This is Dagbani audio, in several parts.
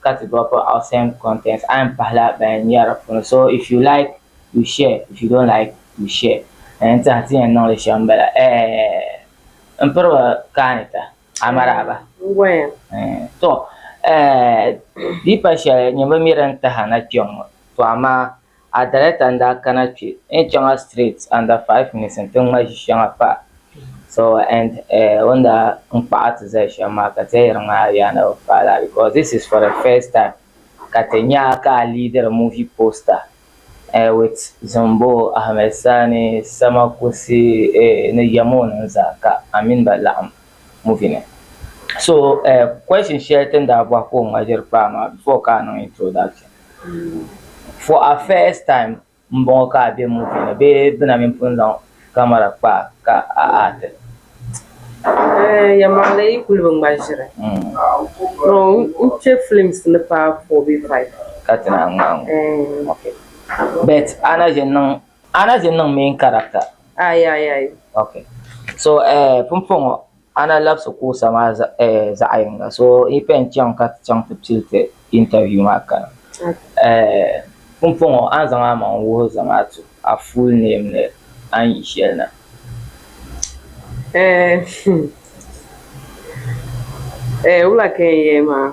ka ti drop out same content a yɛn pahila ban nyari di puuni so if you like you share if you don't like you share a yɛn tiɛha ti yɛn niŋli shɛm bala ɛɛh n piriba kaani ta amaraaba to ɛɛh di pa shɛli nyɛmbo mi din tahi a na kpɛŋŋɔ to amaa A director n daa kana kpe n chaŋa straight under five minutes n ti ŋma ʒi shɛŋa pa so and eh o ni daa n kpaɣa ti zali shɛm maa ka ti yɛn yiri ŋmaa yaa na bi paai lala because this is for the first time ka ti nya ka a leadiri movie poster eh with Zimbo, Ahmed Sani, Sama Kusi eh ni Yamonin zaa ka a mini ba laɣim movie ni so eh question shɛli ti ni daa bɔhi ka o ŋma ʒiri kpaa maa before ka a niŋ introduction. For a first time m bɔŋɔ ka a be movie ni bee di na mini pun zaŋ camera kpa a ka a act li? Eeh yɛlimaŋli yi kuli bi ŋma ʒiri to n chɛ films ni paai four bee five. Ka ti naan ŋmaai ŋɔ? Eeh. Ok. But a na ʒe niŋ a na ʒe niŋ main character? Aai aai aai. Ok. So eh pumpɔŋɔ. A na labisi kuɣusa maa zaɣ yinga. So yi pɛn chaŋ ka ti chaŋ ti pili ti interview maa kana, pumpɔŋɔ a ni zaŋ a maŋ n-wuhi Zamaatu a full name ni a ni yi shɛli na. Ɛɛh, ɛɛh, wula ka n yɛli maa?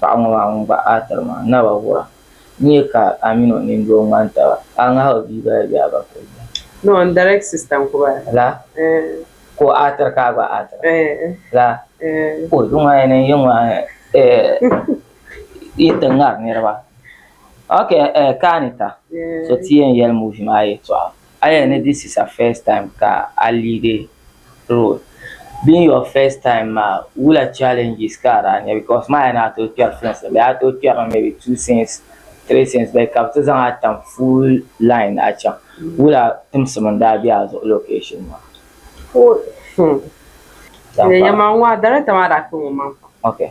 paɣ ŋɔ maa ŋun gba a tiri maa naba wuhira n nyɛ ka a mini o nini doo ŋmani taba ka a ŋahi o bia gba di bɛ a ba ka o nya laa ka o a tiri ka a gba a tira laa ka o zuŋɔ a yɛn niŋ yiŋɔ a yi ti ŋari niriba ok ka a ni ta so ti yɛn yɛli muuvi maa yɛtɔɣa Aya ni this is ur first time ka a leadi role being your first time maa wula challenges ka a daa nya because ma aya ni a tooi kpɛri films la bee a tooi kpɛri maybe two scenes three scenes bee ka bɛ ti zaŋ a tam full line a chaŋ wula timsim n daa be a zuɣu location maa. Paul, hmm, yɛliya maa n ŋɔ a director maa daa kpe ŋɔ maŋ pam. Okay.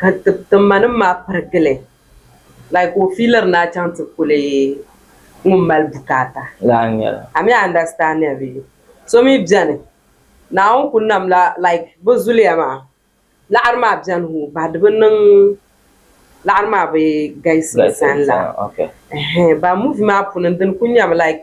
ka ti ma nim maa pirigili like ka o fiiliri ni a chaŋ ti kuli ŋun mali bukaata lahi nyɛla a mi understanding bee so mi beni Naawuni ku nam la like bɛ zuliya maa laɣiri maa beni hoo bahi di bi niŋ laɣiri maa bi galisi sani la ɛhɛɛn bahi movie maa puuni dini kuli nyami like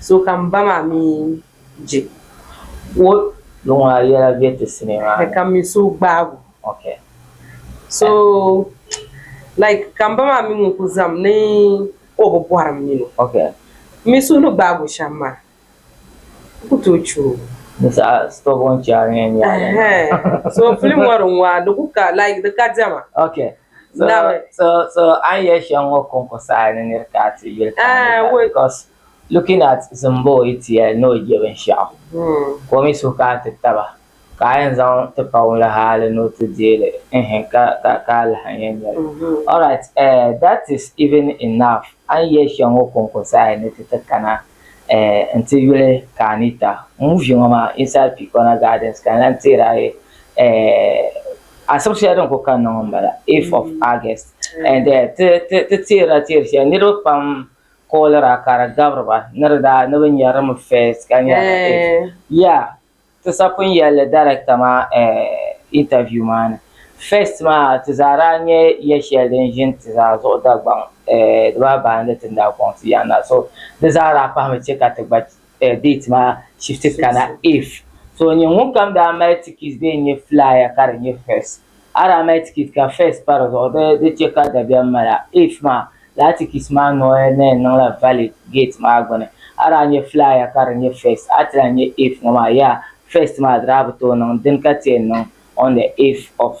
So ka m ba maa mi je o. Luɣ maa yɛla be ti sinii maa ni. Ka m mi so gbaag o. Ok. So like ka m ba maa mi ŋun kuli zaŋm ni o bi bɔhiri m nini o. Ok. M mi suhu ni gbaag o shɛm maa n ku tooi che o. Di saha stubborn child n-yɛn nyɛ a yɛn maa. Ɛhɛɛn so film ŋɔ din ŋɔ a di ku ka like di ka diɛma. Ok. Nami. So, so, so an yɛ shɛŋ ŋɔ kɔŋko saha ni niri ka a ti yuli ka a ni ka because looking at Zimboy ti yɛli ni o je binshɛɣu hmm. ka o mi suhu ka a ti taba ka a yɛn zaŋ ti pa ŋun la haali ni o ti deeli ehin ka ka ka a lahi yɛn nyɛli mm-hmm. all right uh, that is even enough an yɛ shɛŋ ŋɔ kɔŋko saha ni ti ti kana Eh, n ti yuli ka anita ŋun vi ŋɔ maa inside picona gardens ka n lan teeri ayi eh, Asib shɛli din ku kanna ŋɔ m-bala, 8th of August, and ti teerila teeri shɛli niriba pam koolira ka di gabiri ba ni di daa ni bɛ nya di mi first ka nya di eighth. Yeah, ti sapin yɛlli director maa interview maa ni, first maa ti zaa daa nya ya shɛli din ʒi nti zaa zuɣu Dagbaŋ, di baa baani ti ni daa kɔŋ ti yaanna, so di zaa daa pahimi chɛ ka ti gba date maa shifti kana if so nyɛ ŋunkam daa mali tikit bee n-nyɛ flyer ka di nyɛ first a daa mali tikit ka first pa di zuɣu di di chɛ ka dabiɛm mala if maa lala tikit maa noli ni yɛn niŋla valid gate maa gbuni a daa nyɛ flyer ka di nyɛ first a ti lahi nyɛ if ŋɔ maa yaa first maa di daa bi tooi niŋ dini ka ti yɛn niŋ on the if of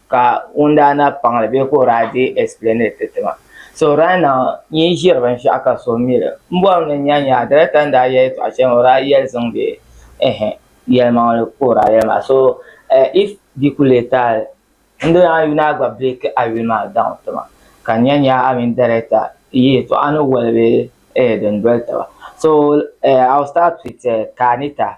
ka ŋun daa na paŋ li bee ka o daa dii explain li ti ti ma so right now n yi ʒiri binshɛɣu ka so mi li m bɔri ni nya nya director ni daa yɛl yɛltɔɣa shɛli maa o daa yɛli zaŋ bɛ ɛhɛ yɛlimaŋli ka o daa yɛli maa so if di ku lee taali n doli a yuli a gba break a yuli maa down ti ma ka n nya nya a mini director yi yɛltɔɣa ni wali bee din doli taba so I will start with Kanita.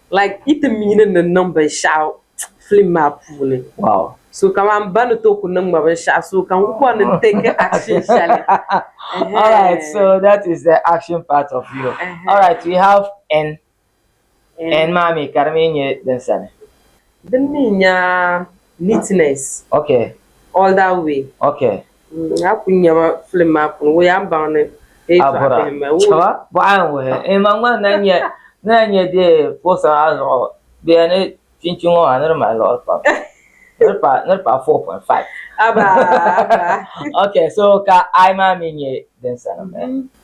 like yi ti miini ni niŋ binshɛɣu film maa puuni wow so kamani ba ni tooi ku niŋ ma binshɛɣu so ka n ku bɔri ni n take action shɛli all right so that is the action part of you all right we have n n maa mi ka di mi nyɛ din sani din mi nya Neatness. Ok. All that way. Ok. Mm, a ku nyɛma film maa puuni, wuhi a ni baŋ ni hee tɔɣa Abura. bihi ma. Wuhi. Chaba, bɔɣa n wuhi. Ee ma ŋma na nyɛ, ni na nyɛ di poster maa zuɣu, di yɛn ni chinchi ŋɔ maa ni di mali liɣiri pam. Ni di paai, ni di paai 4.5. Abaa, abaa. Ok, so ka I maa mi nyɛ din sanim eh?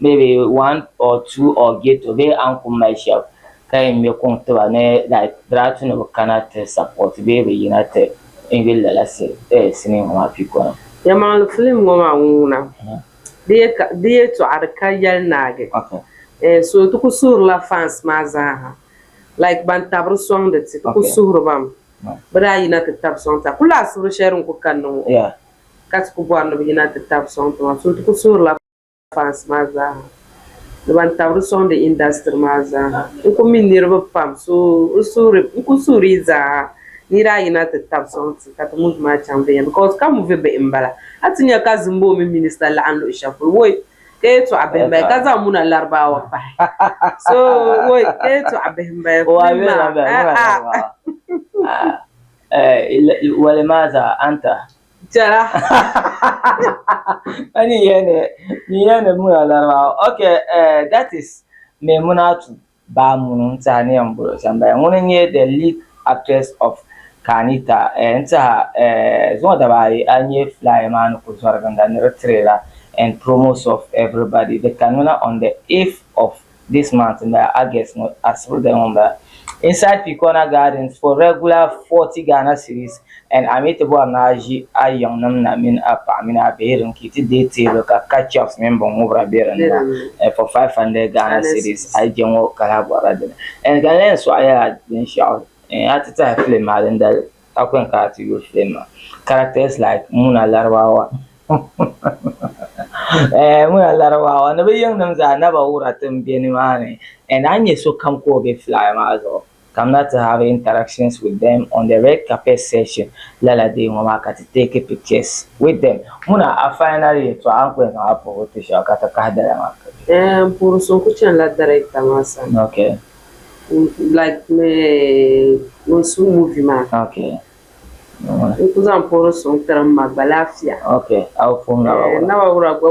maybe one or two or ghetto bee an kum mali shɛb ka yɛn ŋme kuŋ tiba ni like Draatu ni bi kana ti support bee bi yina ti invade lala sini ŋɔ maa piko ni. Yɛmaŋli film ŋɔ maa ŋuna di yɛtɔɣa di ka yɛli naagi eh so ti ku suhirila fans maa zaa ha like ban tabiri sɔŋdi ti ti ku suhiribam bi daa yina ti tabi sɔŋ ta kuli laɣisibiri shɛli din ku kanni ŋɔ ka ti ku bɔri ni bi yina ti tabi sɔŋ ti maa so ti ku suhirila fans maa zaaha ni ban tabiri sɔŋdi industry maa zaaha n ku mi niriba pam so n suhiri n ku suhiri yi zaaha niri ayi na ti tabi sɔŋ ti ka ti movie maa chaŋ viɛnyɛla because ka movie bihi n bala a ti nya ka Zimbo mini minister laɣim luɣi shɛli polo woyi ka yɛltɔɣa bihi n bala ka zaŋ muna laribaawa pahi so woyi ka yɛltɔɣa bihi n bala film maa ah ah. Wali maa zaa anta Tɛra. Ka ni yɛn ni ni yɛn ni muna laribawa ok eh, that is Maimunatu Bah Munu n tiɛha ni yɛn bolo shɛm bala ŋuni n nyɛ the lead actress of Ka ni ta eh, n tiɛha eh, zuŋɔ daba ayi a yi nyɛ flyer maa ni ku zɔri ginda ni di trailer and promos of everybody di kanmi na on the 8th of this month m-bala, August ŋɔ asibirigaya ŋɔ m-bala, inside Picona Gardens for regular 40 Ghana cedis and a mi ti bɔri ni a ʒi a yiŋnim na mini a paɣa mini a bihi din ki ti day table ka ketchups mini binŋubira be din ni na and for 500 Ghana cedis a yi je ŋɔ ka lahi bɔrila dini and ka n lahi yɛn sɔɣi ya la binshɛɣu a ti tahi film maa dindali. How can ka ti yuli Filemma characters like Muna Larabawa eh Muna Larabawa ni bɛ yiŋnim zaa naba wura ti m-be nimaani and a ni nya sokam ka o be flyer maa zuɣu kamina ti have interactions with them on the red carpet session lala day ŋɔ maa ka ti take pictures with them Muna a final yɛltɔɣa n-kuli zaŋ a puhibu ti shɛba ka ti kahi dala maa. Eh m puhiri so n-kuli chanila director maa sani. Okay. like ŋun su movie maa n ku zaŋ puhiri suŋ tiri n ma gba lafiya Naba Wura gba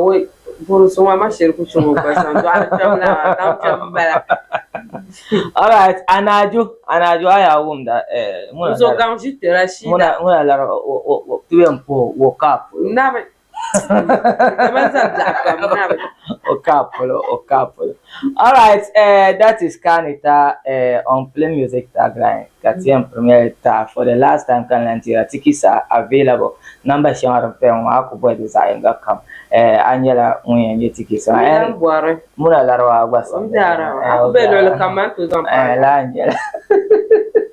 puhiri suŋ maa ma shiri ku chaŋ o gba sani dɔɣili kpɛbu lana maa daŋ kpɛbu n bala alright a ni Ajo a ni Ajo a yaa wumda ŋuna lara o ti yɛn puhi o cap. o kaa polo o kaa polo all right uh, that is kani ta uh, on play music tagline ka ti yɛn pirimi ta for the last time ka lan tira ti kisa available namba shɛŋa din paya ŋɔ a ku bɔhi di zaɣ yinga kam uh, a nyɛla ŋun yɛn nyɛ ti kisa muna larawa gba sɔŋ a ku bɛ luɣuli kam man to zaŋ pa la nyɛla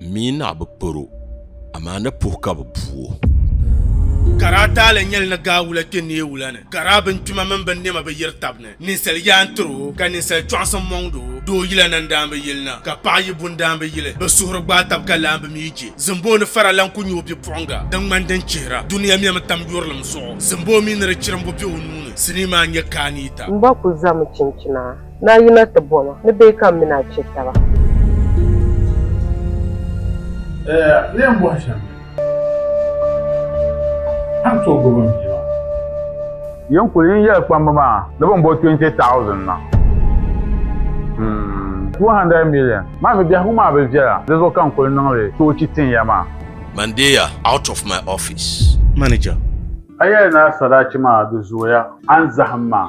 M mi naɣ bi pir o, amaa ni puhi ka bɛ bu o. Ka daa taali nyɛli ni gaa wula kpe neei wula ni, ka daa binkpima mini binnɛma bi yiri tab ni, ninsal yaa n-tir o, ka ninsal kpiɔŋsim mɔŋd o. Doo yila na n-daa bi yili na, ka paɣ yi bu n-daa bi yili. Bɛ suhuri gbaai tab ka lahi bi mi je. Zimboo ni fara lan ku nyɛ o bipuɣiŋga din ŋmani din chihira. Dunia mɛmi tam yurilim zuɣu. Zimboo mi ni di chirimbu be o nuu ni, sinii maa n-nyɛ Kaaniita. M bɔ ku zami chinchina. Ni a yina ti bɔ ma ni bee ka m mini a chɛ taba? Lee n bɔhi shɛm ni a ni tooi gbibi m bia maa? Yen kuli yi yɛli kpamba maa ni bɛ ni bɔ 20,000 na. Hmm, 200 million maa mi biɛhigu maa bi viɛla, di zuɣu ka n kuli niŋ li toochi tin ya maa. Man deei ya out of my office. Manager. A yɛli ni a sadachi maa di zooya a ni zahim maa.